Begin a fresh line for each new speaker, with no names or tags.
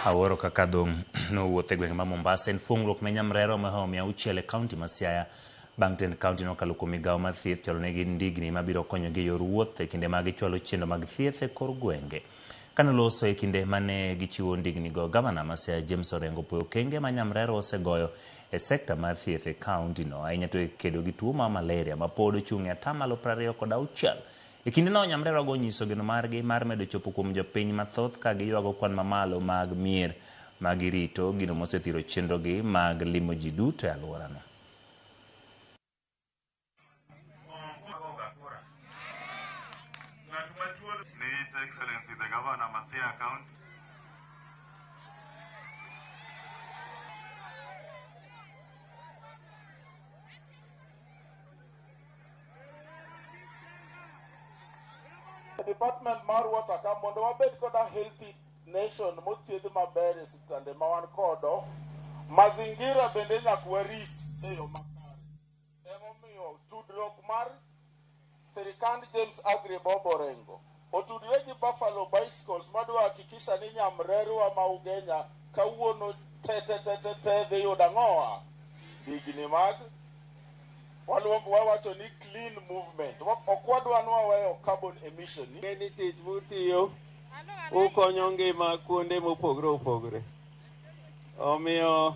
Awuoro kaka dhong' nowuotho e gwenge ma Mombasa en fuong'ruok ne nyamrerwa mohewo mia auchiel e kaunti ma Siaya bang' tend kaunti no kalo kuom migawo mar thieth chwalo negi ndigni ma biro konyogi e yor wuoth e kinde ma gichwalo chendo mag thieth e kor gwenge. Kane oloso e kinde mane gichiwo ndigni go, gavana ma Siaya James Orengo opwoyo okenge ma nyamrerwa osegoyo e sekta mar thieth e kaunti no, ahinya to e kedo gi tuo mar malaria ma pod ochung' e atamalo prariyo kod auchiel E kindeno, nyamrerewago onyiso geno margi mar medo chopo kuom jopiny mathoth ka giywago kwan mamalo mag mier ma girito, gino mosethiro chenrogi mag limo ji duto e alworano.
department mar water ka mondo wabed koda healthy nation mothiedh maber e siptande ma wan kodo mazingira bende nyaka warit e yo makare emomiyo tudruok mar sirikand james agri bobo rengo Otudre gi Buffalo Bicycles madwa hakikisha ni nyamrerwa ma Ugenya kawuono tetetetete dhi yudo ang'owa? Digni mag waluongo wawacho ni clean movement. Ok wadwa ni waweyo carbon emission. Ng'e ni tich
mutiyo ukonyo ngima kuonde mopogre opogre. Omiyo